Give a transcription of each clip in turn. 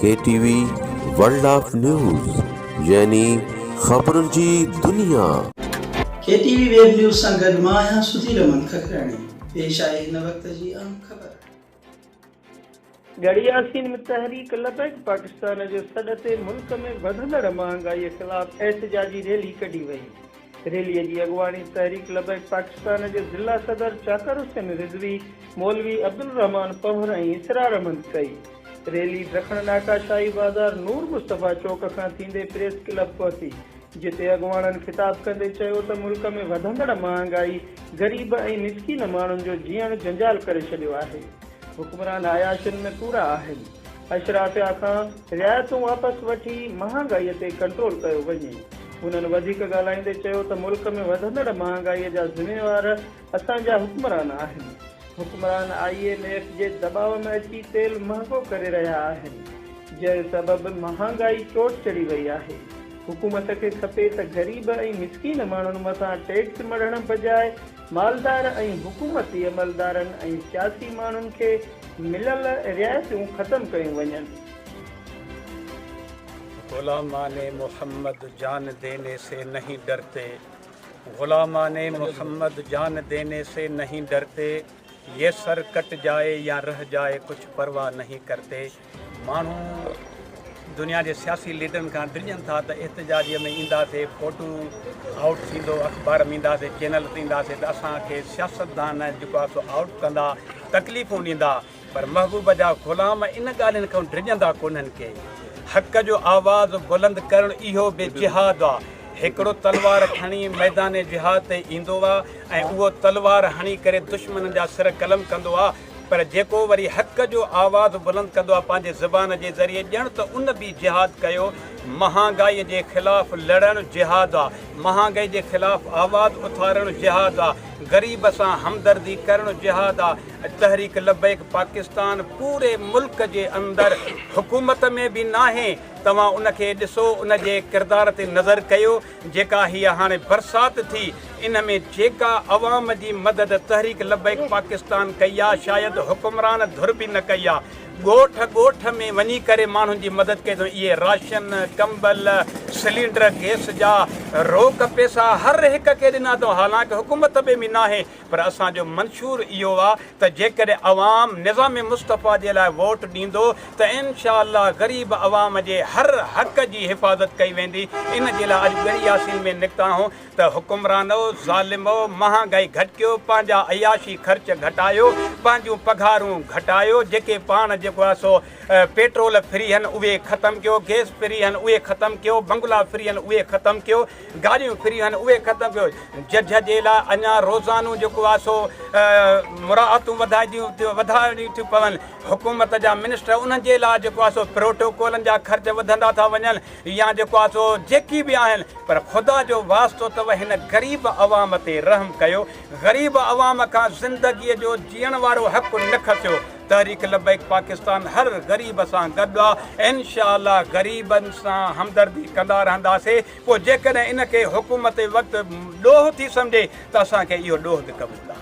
K T V world of news يعني خبرن جي دنيا. K T V web news سان گڏ مان آهيان سڌير احمد ککراڻي پيش آهي هن وقت جي اهم خبر. ڳڙهي ياسين ۾ تحريڪ لبيڪ پاڪستان جي سڏ تي ملڪ ۾ وڌندڙ مهانگائي خلاف احتجاجي ريلي ڪڍي وئي. ريلي جي اڳواڻي تحريڪ لبيڪ پاڪستان جي ضلع صدر چاڪر حسين رضوي، مولوي عبدالرحمان پنهور ۽ اسرار احمد ڪئي. ريلي ڊکڻ ناڪا شاهي بازار نور مصطفيٰ چوڪ کان ٿيندي پريس ڪلب پهتي، جتي اڳواڻن خطاب ڪندي چيو ته ملڪ ۾ وڌندڙ مهانگائي غريب ۽ مسڪين ماڻهن جو جيئڻ جنجال ڪري ڇڏيو آهي، حڪمران عياشين ۾ پورا آهن. اشرافيا کان رعايتون واپس وٺي مهانگائي تي ڪنٽرول ڪيو وڃي. هنن وڌيڪ ڳالهائيندي چيو ته ملڪ ۾ وڌندڙ مهانگائي جا ذميوار اسان جا حڪمران آهن، حڪمران آء ايم ايف جي دٻاء ۾ اچي تيل مهانگو ڪري رهيا آهن، جنهن سبب مهانگائي چوٽ چڙهي وئي آهي، حڪومت کي کپي ته غريب ۽ مسڪين ماڻهن مٿان ٽيڪس مڙهڻ بجاء مالدار ۽ حڪومتي عملدارن ۽ سياسي ماڻهن کي مليل رعايتون ختم ڪيون وڃن. غلامان محمد جان ديني سي نهين ڊرتي، غلامان محمد جان ديني سي نهين ڊرتي، يي سر ڪٽ جائي يا رهه جائي ڪچھ پرواهه نهين ڪرتي. ماڻهو دنيا جي سياسي ليڊرن کان ڊڄن ٿا ته احتجاجي ۾ اينداسي، فوٽو آئوٽ ٿيندو، اخبار ۾ اينداسي، چينل تي اينداسي ته اسان کي سياستدان جيڪو آهي سو آئوٽ ڪندا، تڪليفون ڏيندا پر محبوب جا غلام ان ڳالهين کان ڊڄندا ڪونهن ڪي. حق جو آواز بلند ڪرڻ اهو به جهاد آ. هڪڙو تلوار کڻي ميدان جهاد تي ايندو آ ۽ اهو تلوار هڻي ڪري دشمنن جا سر قلم ڪندو آ. پر جيڪو وري حق جو آواز بلند ڪندو آهي پنهنجي زبان جي ذريعي ڄڻ ته ان به جهاد ڪيو. مهانگائي جي خلاف لڙڻ جهاد آهي. مهانگائي جي خلاف آواز اٿارڻ جهاد آهي. غريب سان همدردي ڪرڻ جهاد آهي. تحريڪ لبيڪ پاڪستان پوري ملڪ جي اندر حڪومت ۾ به ناهي. توهان ان کي ڏسو ان جي ڪردار تي نظر ڪيو. جيڪا هيء هاڻي برسات ٿي، ان ۾ جيڪا عوام جي مدد تحريڪ لبيڪ پاڪستان ڪئي آ، شايد حڪمران ڌر به نه ڪئي آ. ڳوٺ ڳوٺ ۾ وڃي ڪري ماڻهن جي مدد ڪئي اٿئون. اهي راشن، ڪمبل، سلينڊر گئس جا روڪ پئسا هر هڪ کي ڏنا اٿئون. حالانڪ حڪومت به ناهي پر اسان جو منشور اهو آ ته جيڪڏهن عوام نظام مصطفيٰ جي لاء ووٽ ڏيندو ته انشاء الله غريب عوام جي هر حق جي حفاظت ڪئي ويندي ان جي لاء اڄ ڳڙهي ياسين ۾ نڪتا آهون ته حڪمرانو ظالمو مهانگائي گهٽڪيو پنهنجا عياشي خرچ گهٽايو پنهنجون پگهارون گهٽايو جيڪي پاڻ جيڪو آ سو پيٽرول فري هن اهي ختم ڪيو گيس فري هن اهي ختم ڪيو بنگلا فري هن اهي ختم ڪيو گاڏيون فري آهن اهي ختم ڪيو ججهه جي لاء اڃا روزانو جيڪو آهي سو مراعتون وڌائڻيون ٿيون پون حڪومت جا منسٽر انهن جي لاء جيڪو آهي سو پروٽوڪولن جا خرچ وڌندا ٿا وڃن يا جيڪو آهي سو جيڪي به آهن پر خدا جو واسطو اٿو هن غريب عوام تي رحم ڪيو غريب عوام کان زندگي جو جيئڻ وارو حق نه کسيو تحريڪ لبيڪ پاڪستان هر غريب سان گڏ آ انشاء الله غريبن سان همدردي ڪندا رهنداسي پوء جيڪڏهن ان کي حڪومت وقت ڏوهه ٿي سمجهي ته اسان کي اهو ڏوهه به قبول آ.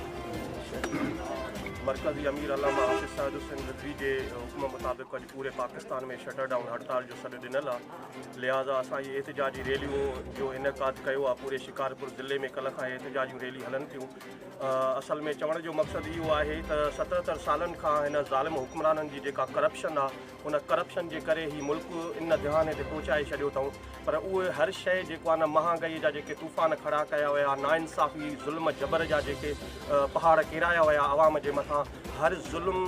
مرڪزي امير علامه حافظ سعد حسين رضوي جي حڪم مطابق اڄ پوري پاڪستان ۾ شٽر ڊائون هڙتال جو سڏ ڏنل آ لهٰذا اسان جي احتجاجي ريليون جو انعقاد ڪيو آ پوري شڪارپور ضلعي ۾ ڪلهه کان احتجاجيون ريلي هلن ٿيون اصل ۾ چوڻ جو مقصد اهو آهي ته ستهتر سالن کان هن ظالم حڪمرانن جي جيڪا ڪرپشن آهي ان ڪرپشن جي ڪري هي ملڪ ان دهاني تي پهچائي ڇڏيو اٿئون پر اهو هر شيء جيڪو آهي نه مهانگائي جا جيڪي طوفان کڙا ڪيا ويا نا انصافي ظلم جبر جا جيڪي پهاڙ ڪيرايا ويا عوام جي مٿان هر ظلم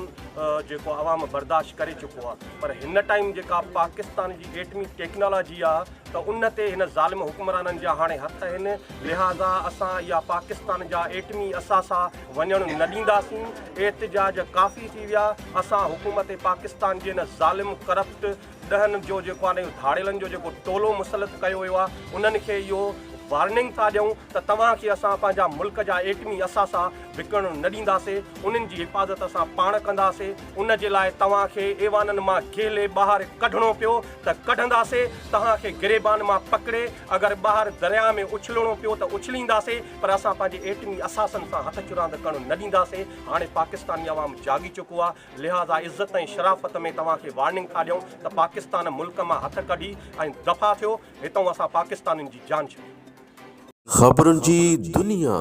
جيڪو عوام برداشت ڪري چڪو آهي پر هن ٽائيم جيڪا پاڪستان جي ايٽمي ٽيڪنالاجي آهي ته ان تي هن ظالم حڪمرانن جا هاڻي هٿ آهن، لهٰذا اسان اها پاڪستان جا ايٽمي اثاثا وڃڻ نه ڏينداسين. احتجاج ڪافي ٿي ويا، اسان حڪومت پاڪستان جي ان ظالم، ڪرپٽ، ڏهن جو جيڪو آهي اهو ڌاڙيلن جو جيڪو ٽولو مسلط ڪيو ويو آهي، انهن کي اهو وارننگ ٿا ڏيون ته توهان کي اسان پنهنجا ملڪ جا ايٽمي اثاثا وڪڻڻ نه ڏينداسين، انهن جي حفاظت اسان پاڻ ڪنداسين، ان جي لاء توهان کي ايوانن مان گهلي ٻاهر ڪڍڻو پيو، ته ڪڍنداسين توهان کي گريبان مان پڪڙي اگر ٻاهر درياء ۾ اڇلڻو پيو ته اڇلينداسين پر اسان پنهنجي ايٽمي اثاثن سان هٿ چراند ڪرڻ نه ڏينداسين هاڻي پاڪستاني عوام جاڳي چڪو آهي لهٰذا عزت ۽ شرافت ۾ توهان کي وارننگ ٿا ڏيون ته پاڪستان ملڪ مان هٿ ڪڍي ۽ دفع ٿيو هتئون اسان پاڪستانين جي جان ڇڏي. خبرن جي دنيا.